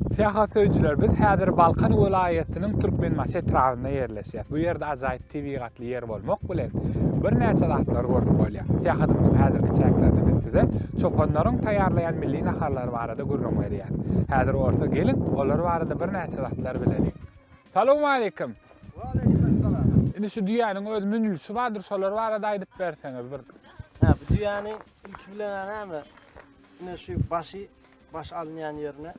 Syýahat söýüjiler, biz häzir Balkan welaýatynyň Türkmenbaşy etrabynda ýerleşýäs. Bu ýerde ajaýyp tebigatly ýer bolmak bilen, birnäçe zatlar görüp bolýar. Syýahatymyzyň häzirki çäklerinde biz size çopanlaryň taýýarlaýan milli naharlary barada gürrüň berýäs. Häzir bolsa geliň, olar barada birnäçe zatlar bileliň. Salowmaleýkim! Waleýkim essalam! Indi şu düýäniň öz münülişi bardyr, şolar barada aýdyp berseňiz bir. Hä, bu düýäni ilki bilen näme, ine şu başy Baş alynýan ýerine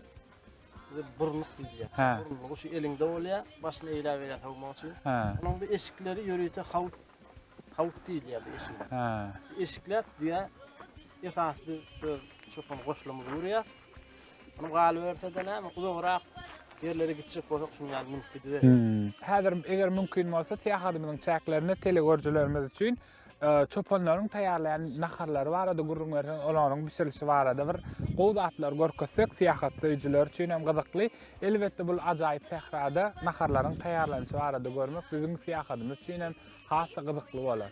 bize burnuk diýilýär. Hä. Burnugy şu eliňde bolýar, başyny eýläp eýläp sowmak üçin. Hä. Onuň bir eşikleri ýörite hawut hawut diýilýär bu eşigiň. Hä. Eşikläp düýä esas biz öz çopan goşlamyzy urýar. Onuň galyberse-de näme uzagrak ýerlere gitjek bolsak şuny ýaly münüp gidiberis. Hmm. Häzir eger mümkin bolsa, syýahatymyzyň çäklerinde telegörüjilerimiz üçin Çopanlaryň taýýarlaýan naharlary barada gürrüň berseň, olaryň bişirilişi barada bir gowy zatlary görkezsek, syýahat söýüjiler üçin hem gyzykly. Elbetde, bu ajaýyp sährada naharlaryň taýýarlanyşy barada görmek biziň syýahadymyz üçin hem has-da gyzykly bolar.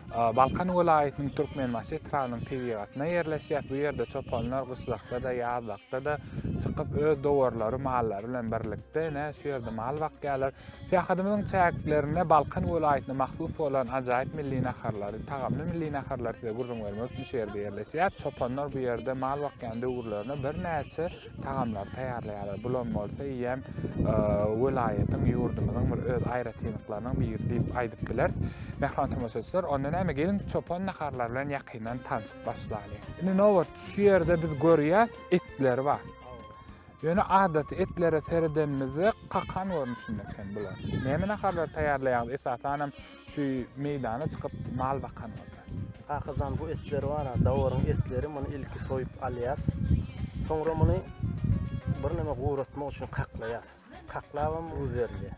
Balkan welaýatynyň Türkmenbaşy etrabynyň tebigatyna ýerleşýär. Bu ýerde çopanlar gyşlakda-da, ýazlykda-da çykyp, öz dowarlary, mallary bilen birlikde ine, şu ýerde mal bakýarlar. Syýahatymyzyň çäklerinde Balkan welaýatyna mahsus bolan ajaýyp milli naharlary, tagamly milli naharlary size gürrüň bermek üçin şu ýerde ýerleşýäris. Çopanlar bu ýerde mal bakýan döwürlerine birnäçe tagamlary taýýarlaýarlar. Bulam bolsa eýýäm welaýatyň, ýurdumyzyň bir öz aýratynlyklarynyň biri diýip aýdyp bileris. Mähriban tomaşaçylar, onda näme geliň çopan naharlary bilen ýakyndan tanşyp başlalyň. Indi nobat şu ýerde biz görýäs etler bar. Ýöne adaty etlere seredenimizde kakan görnüşinde eken bular. Näme naharlary taýýarlaýarys esasanam Şu meýdana çykyp mal bakan bolsa. Kakajan bu etler bara dawaryň etleri muny ilki soýup alýas soňra muny birneme guratmak üçin kaklaýas kaklabam duz berilýär.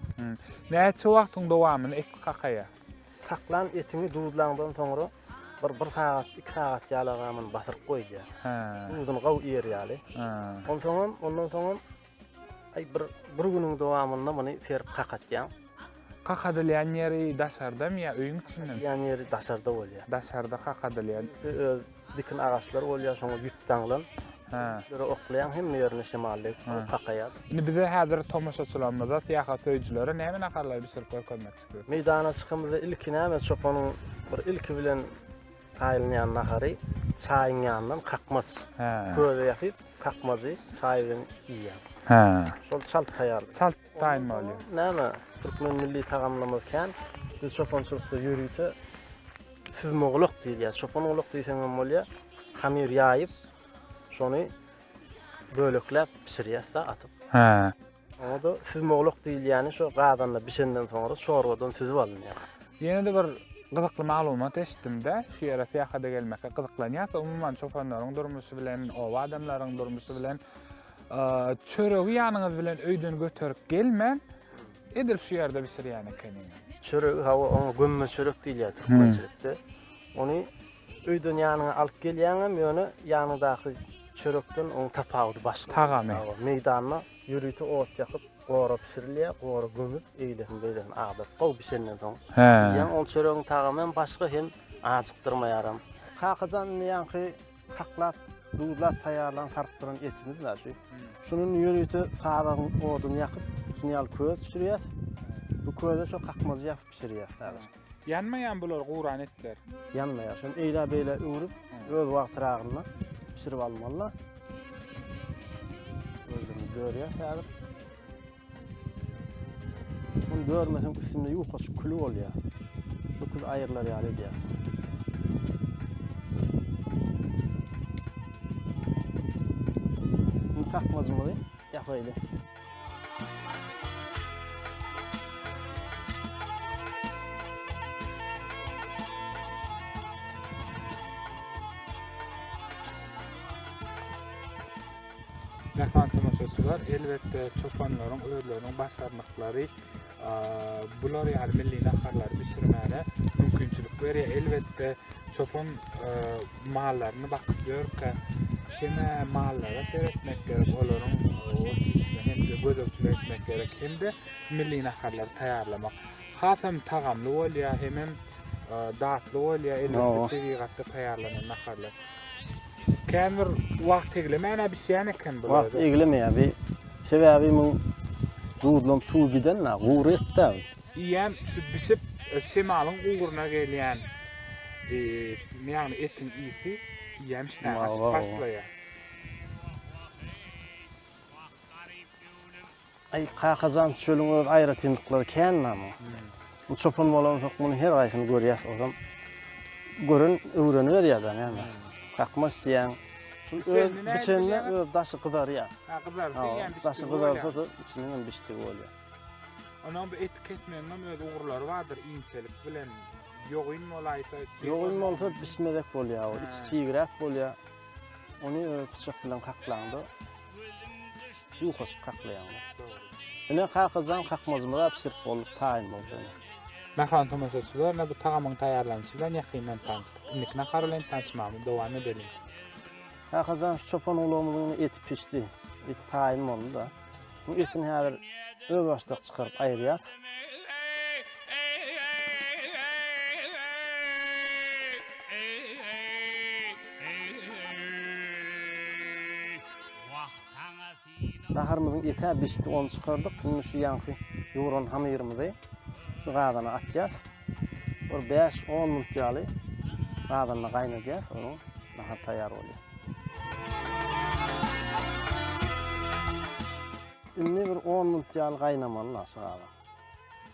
Näçe wagtyň dowamyny et kakaýar. Kaklan etiňi duzlaňdan soňra bir bir sagat iki sagat ýaly aga muny basyryp goýulýar duzuny gawy iýer ýaly onsoňam ondan soňam Aý bir bir günüň dowamynda muny serip kakatýaň. Kakadylýan ýeri daşardamy ýa öýüň içindemi? Kakadylýan ýeri daşarda bolýar. Daşarda kakadylýan. Öz dikin agaçlar bolýar şoňa ýüp daňylan. Hä. Ýüplere oklaýaň hemme ýerine şemal degip soň kakaýar. Indi bize häzir tomaşaçylarymyza syýahat söýüjilere näme naharlary bişirip görkezmekçisiz? Meýdana çykamyzda ilki näme çopanyň bir ilki bilen Taýylýan nahary çaýyň ýanyndan kakmaç köze ýasyp, kakmajy çaý bilen iýýär. Hä. Şol çalt taýýarlar. Çalt taýynmaly. Näme? Türkmen milli tagamlarymyz kän. Biz çopançylykda ýörite süzme gulak diýilýär. Çopan gulak diýseň hem bolýar. Hamyr ýaýyp, şony bölekläp bişirýäs-de atyp. Hä. Onda süzmewluk diýilýäni şo gazanda bişenden soňra çorbadan süzüp alynýar. Ýene-de bir gyzykly maglumat eşitdim-de, şu ýere syýahata gelmekge gyzyklanýarsa, umuman çopanlaryň durmuşy bilen, oba adamlaryň durmuşy bilen çöregi ýanyňyz bilen öýden göterip gelmän, edil şu ýerde bişirýän ekeniňiz. Çöregi hawa, oňa gömme çörek diýilýär türkmençilikde. Ony Öýden ýanyňa alyp gelýäňem, ýöne ýanyňdaky çörekden onuň tapawudy başga. Tagamy. Hawa, meýdanda ýörite ot ýakyp, gora bişirilýär, gora gömüp, eýlesini-beýlesini agdaryp, gowy bişenden soň Hä. iýýäň. Ol çöregiň tagamy hem başga, hem ajykdyrmaýaram. Kakajan indi ýaňky haklap, duzlap taýýarlan, sarpdyran etimiz bar şu. Şuny indi ýörite sazagyň oduny ýakyp, şuny ýaly köz bişirýäs. Bu köze şo kakmajy ýapyp bişirýäs häzir. Ýanmaýan bular guran etler. Ýanmaýar. Şony eýlä beýlä öwrüp, öz wagtyragynda bişirip almalylar. Gözlerimiz dörýär häzir. Muny dörmeseň üstünde ýukaçyk küli bolýar. Şu kül aýrylar ýaly edýär. Indi kakmajymyzy ýapaýly. Mähran tomaşaçylar, elbetde çopanlaryň özleriniň başarnyklary bular ýaly milli naharlary bişirmäne mümkinçilik berýär. Elbetde çopan mallaryny bakyp ýörkä heme mallara seretmek gerek, olaryň otlygyna hem gözegçilik etmek gerek. Hem de milli naharlary taýýarlamak hasam tagamly bolýar, hem hem datly bolýar. Elbetde tebigatda taýýarlanan naharlar. Känbir wagt eglemän-ä bişýän eken bular. Wagt eglemeýär bi. Sebäbi muň duzlam suwy giden-ä, gury etdi-ä bi. Iýýän şu bişip şemalyň ugruna gelýän ýagny etiň ysy iýýän işdäni açyp başlaýar. Aý, kaka jan, çölüň öz aýratynlyklary känmi-ä muň? Bu çopan bolansoň, munuň her haýsyny görýäs, ozam gören öwreniberýär-dä, näme? Kakma isleýäň. Şul öz bişende öz daşy gyzarýar. Ha, gyzarsyn, ýa bişdi. Daşy gyzarsa-da, içiniň hem bişdigi bolýar. Onuň bu etik etmegiň hem öz ugurlary bardyr, inçelik bilen. Ýogyn bolaýsa, ýogyn bolsa bişmezek bolýar, içi çigräp bolýar. Ony pyçak bilen kaklaňda, Uýkasyz kaklaýaňlar. Ine Kakajan kakmazymyza bişirip bolduk taýyn boldy. Mähriban tomaşaçylar, bu tagamyň taýýarlanyşy bilen ýakyndan tanyşdyk. Indiki nahar bilen tanyşmagymy dowam edeliň. Kakajan şu çopan ulagymyzyň eti pişdi. Eti taýyn boldy-da. Bu etini häzir özbaşdak çykaryp aýyrýas. Naharymyzyň ýeter bişdi, ony çykardyk. Indi şu ýaňky ýugran hamyrymyzy şu gazana atýas. Bir bäş, on minut ýaly gazanda gaýnadýas, soň nahar taýýar bolýar. Indi bir on minut ýaly gaýnamaly naşy galan.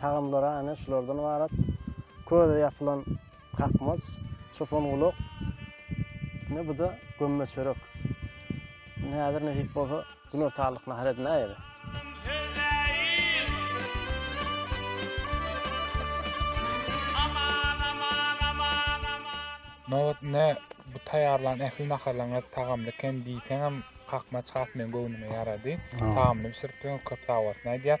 Tagamlary aýna şulardan ybarat, köze ýapylan kakmaç, çopan gulak, ine bu-da gömme çörek. Ine häzir nesip bolsa günortanlyk nahar edinäýeli. Nobat ine bu taýýarlan ähli naharlaryňyz tagamly eken diýseňem kakmaç has meň göwnüme ýarady. Tagamly bişiripsiňiz köp sag bolsun aýdýas.